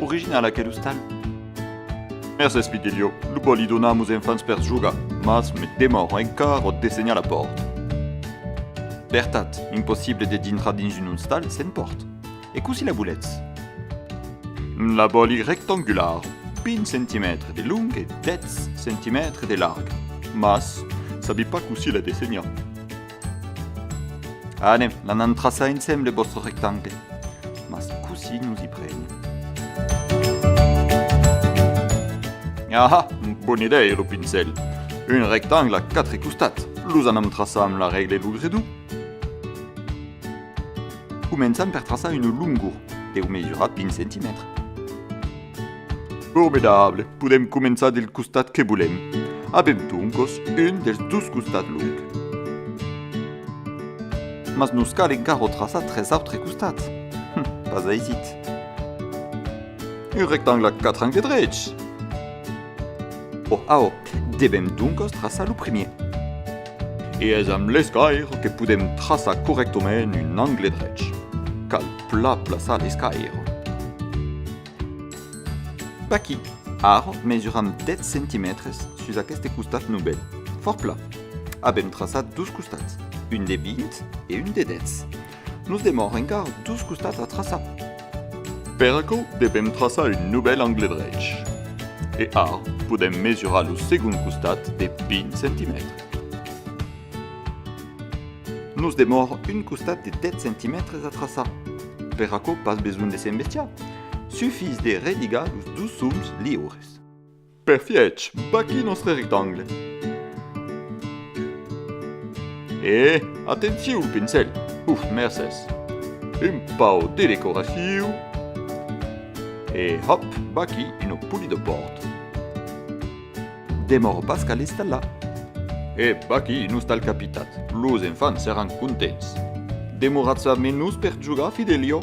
Original aquel ostal. Mercés Pitilhio, lo bo li donar a mos enfants per jogar, mas me demòro encara ò dessenhar la pòrt. Vertat, impossible de dintrar dins un ostal sen pòrt. E cossí la voletz? La vòli rectangular, 20 centimètres de long e 10 centimètres de larg, mas sabi pas cossí la dessenhar. Anem, l'anan traçar ensemble vòstre rectangle. Mas cossí nos i prenem? Aha! Bona idèia lo pincèl. Un rectangle a quatre costats, los anam traçar amb la règle de Logredou. Començam per traçar una longor, deu mesurar 20 centimètres. Formidable! Podem començar del costat que volem. Avem doncos un dels dos costats long. Mas nos cal encara traçar tres autres costats. Hum, pas aisit. Un rectangle a 4 angles drets! Bon, aò, devem doncos traçar lo primièr. E es amb l'escaire que podèm traçar corrèctament un angle drech. Cal plan plaçar l'escaire. D'aquí, ara mesuram 10 centimètres sus aqueste costat novèl, fòrt plan. Avèm traçat dos costats, un de 20 e un de 10. Nos demòr encar dus costats a traçar. Per aquò devèm traçar un novèl angle drech. E ara podèm mesurar lo segond costat de 20 centimètres. Nos demòr un costat de 10 centimètres a traçar. Per aquò pas besonh de s'embestiar, sufís de religar los dus soms liures. Perfièch, vaquí nòstre rectangle. E, atenciu, pincèl! Uf, mercés! Un pauc de decoraciu. E, hòp, vaquí una poli de bòrd. Demòro pas qu'al estallar. E, vaquí un ostal capitat. Los enfants seràn contents. Demoratz a menus per jogar, Fidelio?